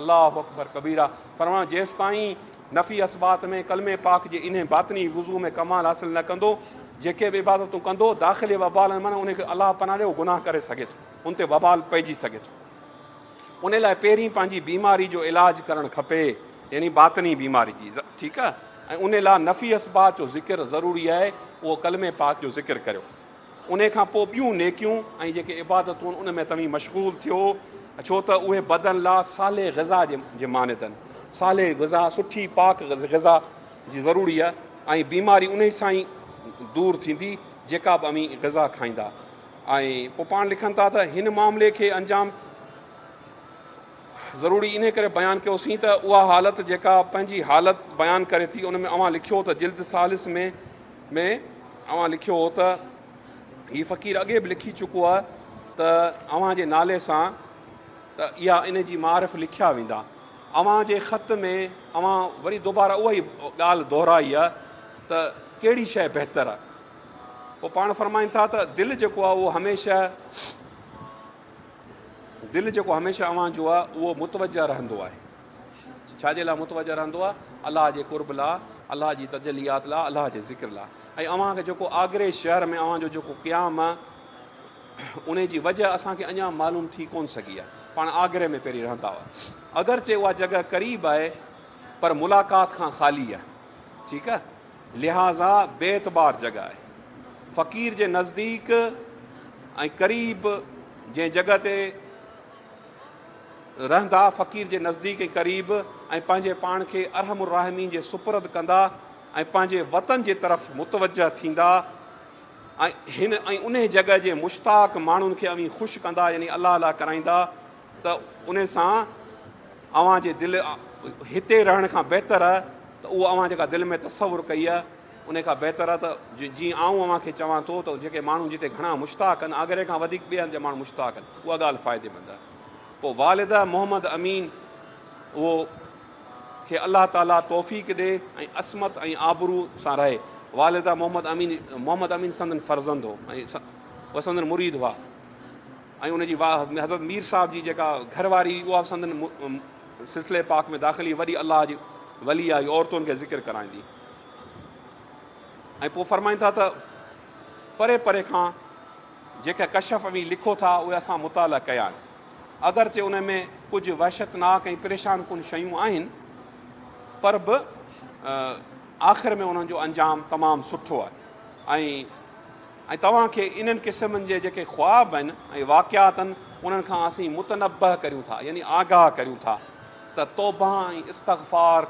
الله اڪبر ڪبيرا فرمان جيستائين نفي اثبات ۾ ڪلمي پاڪ جي انهي باطني وضو ۾ ڪمال حاصل نه ڪندو جيڪي به عبادتون ڪندو داخلي وبال من ان کي الله پناهه ڏي گناهه ڪري سگهي ٿو ان تي وبال پئجي سگهي ٿو ان لاء پهرين پنهنجي بيماري جو علاج ڪرڻ کپي يعني باطني بيماري جي ٺيڪ آهي ۽ ان لاء نفي اثبات جو ذڪر ضروري آهي اهو ڪلمي پاڪ جو ذڪر ڪريو انهي کان پوء ٻيون نيڪيون ۽ جيڪي عبادتون آهن ان ۾ توهين مشغول ٿيو، ڇو ته اهي بدن لا صالح غذا جي مانند آهن. صالح غذا، سٺي پاڪ غذا، جي ضروري آهي ۽ بيماري انهي سان ئي دور ٿيندي جيڪا به اوهين غذا کائيندا. ۽ پوء پاڻ لکن ٿا ته هن معاملي کي انجام. ضروري انهي ڪري بيان ڪيوسين ته اها حالت جيڪا پنهنجي حالت بيان ڪري ٿي ان ۾ اوهان لکيو ته جلد ثالث ۾ ۾ اوهان لکيو هو ته هي فقير اڳي به لکي چڪو آهي ته اوهان جي نالي سان ته اها ان جي معارف لکيا ويندا اوهان جي خط ۾ اوهان وري دوباره اهائي ڳالهه دهرائي آهي ته ڪهڙي شيء بهتر آهي پوء پاڻ فرمائين ٿا ته دل جيڪو آهي اهو هميشه دل جيڪو هميشه اوهان جو آ اهو متوجه رهندو آهي ڇا جي لاء متوجه رهندو آ الله جي قرب لاء الله جي تجليات لاء الله جي ذڪر لاء ۽ اوهان کي جيڪو آگري شهر ۾ اوهان جو جيڪو قيام آ ان جي وجه اسان کي اڃا معلوم ٿي ڪون سگهي آ پاڻ آگري ۾ پهرين رهندا هئا اگرچه اها جڳهه قريب آهي پر ملاقات کان خالي آ ٺيڪ آ لهٰذا بي اعتبار جڳهه آهي. فقير جي نزديڪ ۽ قريب جنهن جڳهه تي رهندا، فقير جي نزديڪ ۽ قريب ۽ پنهنجي پاڻ کي ارحم الراحمين جي سپرد ڪندا ۽ پنهنجي وطن جي طرف متوجهه ٿيندا ۽ هن ۽ انهي جڳهه جي مشتاق ماڻهن کي اوهين خوش ڪندا يعني الله الله ڪرائيندا. ته ان سان اوهان جي دل هتي رهڻ کان بهتر آهي ته اهو اوهان جيڪا دل ۾ تصور ڪئي آهي ان کان بهتر آهي ته جيئن آئون اوهان کي چوان ٿو ته جيڪي ماڻهو جتي گهڻا مشتاق آهن آگري کان وڌيڪ ٻئي هنڌ جا ماڻهو مشتاق آهن اها ڳالهه فائديمند آهي پوء والده محمد امين اهو کي الله تعاليٰ توفيق ڏي ۽ عصمت ۽ آبرو سان رهي والده محمد امين محمد امين سندن فرزند هو ۽ سندن مريد هئا ۽ ان جي واء حضرت مير صاحب جي جيڪا گهر واري هئي اها به سندن سلسلي پاڪ ۾ داخل هئي وڏي الله جي ولي آهي عورتن کي ذڪر ڪرائيندي ۽ پوء فرمائن ٿا ته پري پري کان جيڪا ڪشف اوهين لکو ٿا اهي اسان مطالعا ڪيا آهن اگرچه ان ۾ ڪجهه وحشتناڪ ۽ پريشان ڪن شيون آهن پر به آخر ۾ انهن جو انجام تمام سٺو آهي ۽ ۽ توهان کي انهن قسمن جي جيڪي خواب ۽ واقعات آهن انهن کان اسين متنبه ڪريون ٿا يعني آگاهه ڪريون ٿا ته توبه ۽ استغفار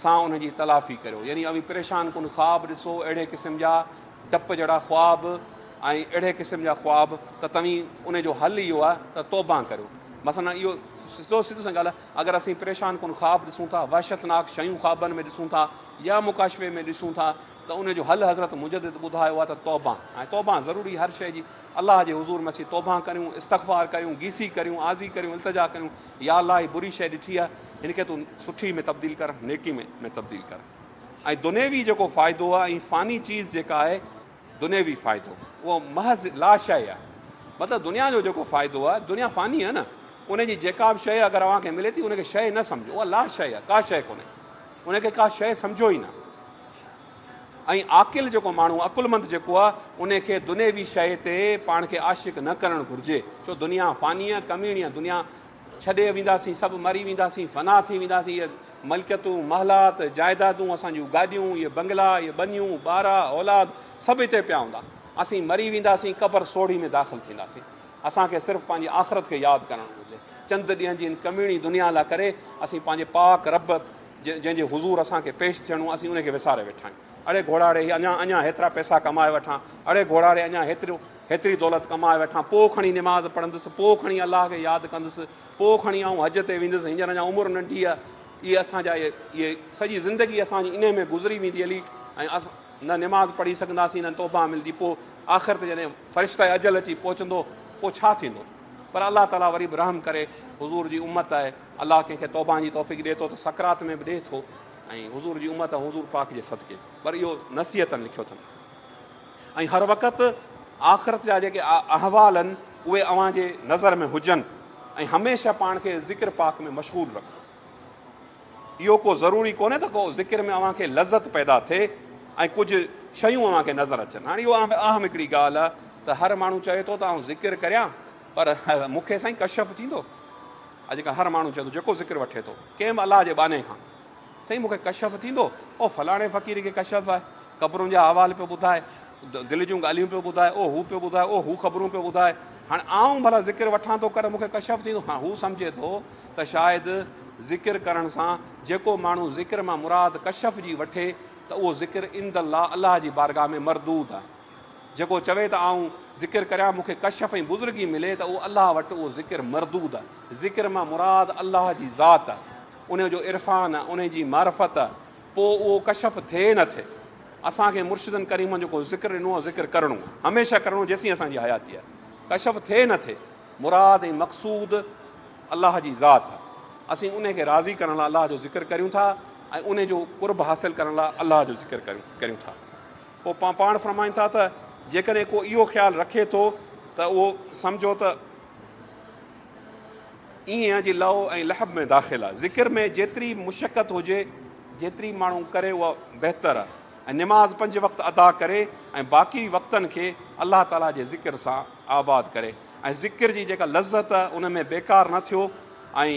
سان انهن جي تلافي ڪريو يعني اوهين پريشان ڪن خواب ڏسو اهڙي قسم جا ڊپ جهڙا خواب ۽ اهڙي قسم جا خواب ته توهين ان جو حل اهو آهي ته توبه ڪريو مثلا اهو سڌو سڌو سان ڳالهه اگر اسين پريشان ڪن خواب ڏسون ٿا وحشتناڪ شيون خوابن ۾ ڏسون ٿا يا مڪاشفي ۾ ڏسون ٿا ته ان جو حل حضرت مجدد ٻڌايو آهي ته توبهه ۽ توبهه ضروري هر شيء جي الله جي حضور ۾ اسين توبهه ڪريون استغفار ڪريون گيسي ڪريون عاضي ڪريون التجا ڪريون يا الله هي بري شيء ڏٺي آهي هن کي تون سٺي ۾ تبديل ڪر نيڪي ۾ ۾ تبديل ڪر ۽ دنيوي جيڪو فائدو آهي ۽ فاني چيز جيڪا آهي دنيوي فائدو اهو محض لا شيء آهي مطلب دنيا جو جيڪو فائدو آهي دنيا فاني آهي نه ان جي جيڪا به شيء اگر اوهان کي ملي ٿي ان کي شيء نه سمجهو اها لا شيء آهي ڪا شيء ڪونهي ان کي ڪا شيء سمجهو ئي نه ۽ عاقل جيڪو ماڻهو آهي، عقلمند جيڪو آهي، ان کي دنيوي شيء تي پاڻ کي عاشق نه ڪرڻ گهرجي، ڇو دنيا فاني آهي، ڪميڻي آهي، دنيا ڇڏي وينداسين، سڀ مري وينداسين، فنا ٿي وينداسين، اهي ملڪيتون، محلات، جائيدادون، اسان جون گاڏيون، اهي بنگلا، اهي ٻنيون، ٻارا، اولاد، سڀ هتي پيا هوندا، اسين مري وينداسين، قبر سوڙهي ۾ داخل ٿينداسين، اسان کي صرف پنهنجي آخرت کي ياد ڪرڻ گهرجي، چند ڏينهن جي هن ڪميڻي دنيا لاء ڪري اسين پنهنجي پاڪ رب جنهن جي حضور اسان کي پيش ٿيڻو آهي، اسين ان کي وساري ويٺا آهيون. اڙي گهوڙاڙي، هي اڃا اڃا هيترا پئسا ڪمائي وٺان، اڙي گهوڙاڙي اڃا هيتريون هيتري دولت ڪمائي وٺان، پوء کڻي نماز پڙهندس، پوء کڻي الله کي ياد ڪندس، پوء کڻي آئون حج تي ويندس، هينئر اڃا عمر ننڍي آهي. اهي اسان جا اهي سڄي زندگي اسان جي انهيء ۾ گذري ويندي علي ۽ اسان نه نماز پڙهي سگهنداسين نه توبه ملندي، پوء آخر تي جڏهن فرشته اجل اچي پهچندو، پوء ڇا ٿيندو؟ پر الله تعاليٰ وري به رحم ڪري، حضور جي امت آهي. الله ڪنهن کي توبهان جي توفيق ڏئي ٿو ته سڪرات ۾ به ڏئي ٿو ۽ حضور جي امت حضور پاڪ جي صدقي پر اهو نصيحتن لکيو اٿن ۽ هر وقت آخرت جا جيڪي احوال آهن اهي اوهان جي نظر ۾ هجن ۽ هميشه پاڻ کي ذڪر پاڪ ۾ مشغول رکو اهو ڪو ضروري ڪونهي ته ڪو ذڪر ۾ اوهان کي لذت پيدا ٿئي ۽ ڪجهه شيون اوهان کي نظر اچن هاڻي اهو اهم هڪڙي ڳالهه آهي ته هر ماڻهو چوي ٿو ته آئون ذڪر ڪريان پر مون کي سائين ڪشف ٿيندو اڄڪلهه هر ماڻهو چوي ٿو جيڪو ذڪر وٺي ٿو ڪنهن به الله جي ٻانهي کان سائين مون کي ڪشف ٿيندو او فلاڻي فقير کي ڪشف آهي قبرن جا احوال پيو ٻڌائي دل جون ڳالهيون پيو ٻڌائي او هو پيو ٻڌائي او هو خبرون پيو ٻڌائي هاڻي آئون ڀلا ذڪر وٺان ٿو ڪري مون کي ڪشف ٿيندو ها هو سمجهي ٿو ته شايد ذڪر ڪرڻ سان جيڪو ماڻهو ذڪر مان مراد ڪشف جي وٺي ته اهو ذڪر عند الله الله جي بارگاهه ۾ مردود آهي جيڪو چوي ته آئون ذڪر ڪريان مون کي ڪشف ۽ بزرگي ملي ته اهو الله وٽ اهو ذڪر مردود آهي. ذڪر مان مراد الله جي ذات، ان جو عرفان، ان جي معرفت، پوء اهو ڪشف ٿئي نه ٿئي. اسان کي مرشدن ڪريمن جيڪو ذڪر ڏنو آهي ذڪر ڪرڻو آهي، هميشه ڪرڻو جيسين اسان جي حياتي آهي. ڪشف ٿئي نه ٿئي. مراد ۽ مقصود الله جي ذات آهي. اسين ان کي راضي ڪرڻ لاء الله جو ذڪر ڪريون ٿا ۽ ان جو قرب حاصل ڪرڻ لاء الله جو ذڪر ڪريون ٿا. پوء پان پاڻ فرمائن ٿا ته جيڪڏهن ڪو اهو خيال رکي ٿو ته اهو سمجهو ته ايئن آهي جيئن لهو ۽ لهب ۾ داخل آهي. ذڪر ۾ جيتري مشقت هجي جيتري ماڻهو ڪري اها بهتر آهي ۽ نماز پنج وقت ادا ڪري ۽ باقي وقتن کي الله تعاليٰ جي ذڪر سان آباد ڪري ۽ ذڪر جي جيڪا لذت ان ۾ بيڪار نه ٿيو ۽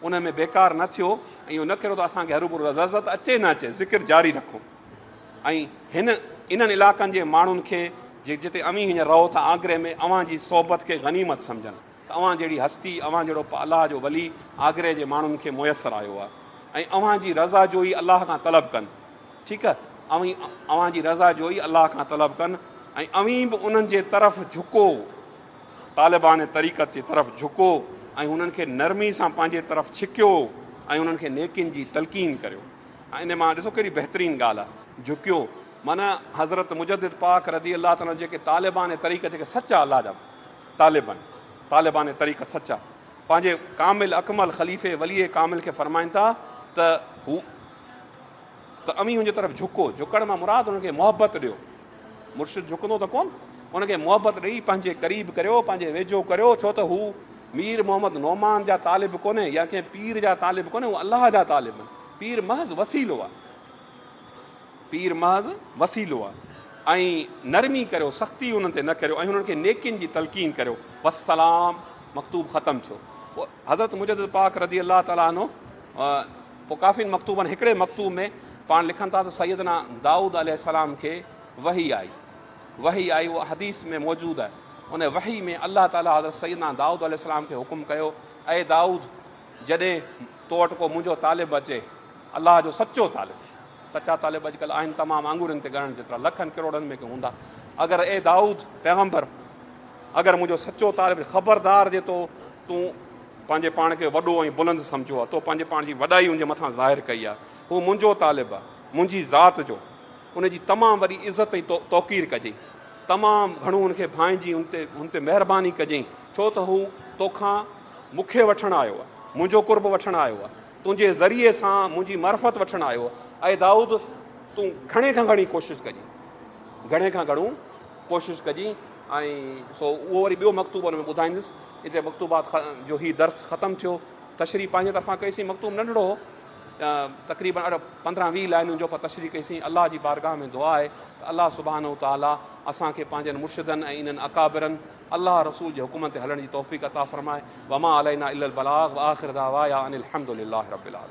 ان ۾ بيڪار نه ٿيو ۽ اهو نه ڪريو ته اسان کي هروڀرو لذت اچي نه اچي ذڪر جاري رکو. ۽ هن انهن علاقن جي ماڻهن کي جتي اوهين هينئر رهو ٿا آگري ۾ اوهان جي صحبت کي غنيمت سمجهن ته اوهان جهڙي هستي، اوهان جهڙو الله جو ولي آگري جي ماڻهن کي ميسر آيو آهي ۽ اوهان جي رضا جوئي الله کان طلب ڪن. ٺيڪ اوهين اوهان جي رضا جوئي الله کان طلب ڪن ۽ اوهين به انهن جي طرف جهڪو، طالبان طريقت جي طرف جهڪو ۽ انهن کي نرمي سان پنهنجي طرف ڇڪيو ۽ انهن کي نيڪين جي تلقين ڪريو. ۽ انهي مان ڏسو ڪهڙي بهترين ڳالهه آهي جهڪيو معنيٰ حضرت مجدد پاڪ رضي الله تعالٰي عنه جيڪي طالبان طريقت جيڪي سچا الله جا طالب آهن طالبان طريقت سچا پنهنجي ڪامل اڪمل خليفي ولي ڪامل کي فرمائن ٿا ته هو ته اوهين هن جي طرف جهڪو جهڪڻ مان مراد هن کي محبت ڏيو مرشد جهڪندو ته ڪون هن کي محبت ڏيئي پنهنجي قريب ڪريو پنهنجي ويجهو ڪريو ڇو ته هو مير محمد نعمان جا طالب ڪونهن يا ڪنهن پير جا طالب ڪونهن هو الله جا طالب آهن پير محض وسيلو آهي پير محض وسيلو آهي ۽ نرمي ڪريو سختي انهن تي نه ڪريو ۽ انهن کي نيڪين جي تلقين ڪريو وسلام مکتوب ختم ٿيو پوء حضرت مجدد پاڪ رضي الله تعالٰي عنه پوء ڪافين مکتوبن هڪڙي مکتوب ۾ پاڻ لکن ٿا ته سيدنا دائود عليه السلام کي وحي آئي وحي آئي اها حديث ۾ موجود آهي ان وحي ۾ الله تعالي حضرت سيدنا دائود عليه السلام کي حڪم ڪيو اي دائود جڏهن تو وٽ ڪو منهنجو طالب اچي الله جو سچو طالب سچا طالب اڄڪلهه آهن تمام آڱرين تي ڳڻڻ جيترا لکن ڪروڙن ۾ ڪي هوندا اگر اي دائود پيغمبر اگر منهنجو سچو طالب خبردار جي تو تون پنهنجي پاڻ کي وڏو ۽ بلند سمجهو آهي تو پنهنجي پاڻ جي وڏائي ان جي مٿان ظاهر ڪئي آهي هو منهنجو طالب آهي منهنجي ذات جو ان جي تمام وڏي عزت ۽ توقير ڪجئي. تمام گهڻو ان کي ڀانئجين، ان تي ان تي مهرباني ڪجئين، ڇو ته هو تو کان مون کي وٺڻ آيو آهي، منهنجو قرب وٺڻ آيو آهي، تنهنجي ذريعي سان منهنجي معرفت وٺڻ آيو آهي. اي دائود! تون گهڻي کان گهڻي ڪوشش ڪجين، گهڻي کان گهڻو ڪوشش ڪجين ۽ سو اهو وري ٻيو مڪتوب ان ۾ ٻڌائيندس. اتي مڪتوبات جو هي درس ختم ٿيو. تشريح پنهنجي طرفان ڪئي سين، مڪتوب ننڍڙو هو. تقريبن اڙ پندرهن ويهه لائينون جو پر تشريح ڪئي سين الله جي بارگاهه ۾ دعا آهي ته الله سبحانه تعالي اسان کي پنهنجن مرشدن ۽ انهن اڪابرن الله رسول جي حڪمن تي هلڻ جي توفيق عطا فرمائي وما علينا الا البلاغ واخر دعوايا ان الحمدلله رب العالمين.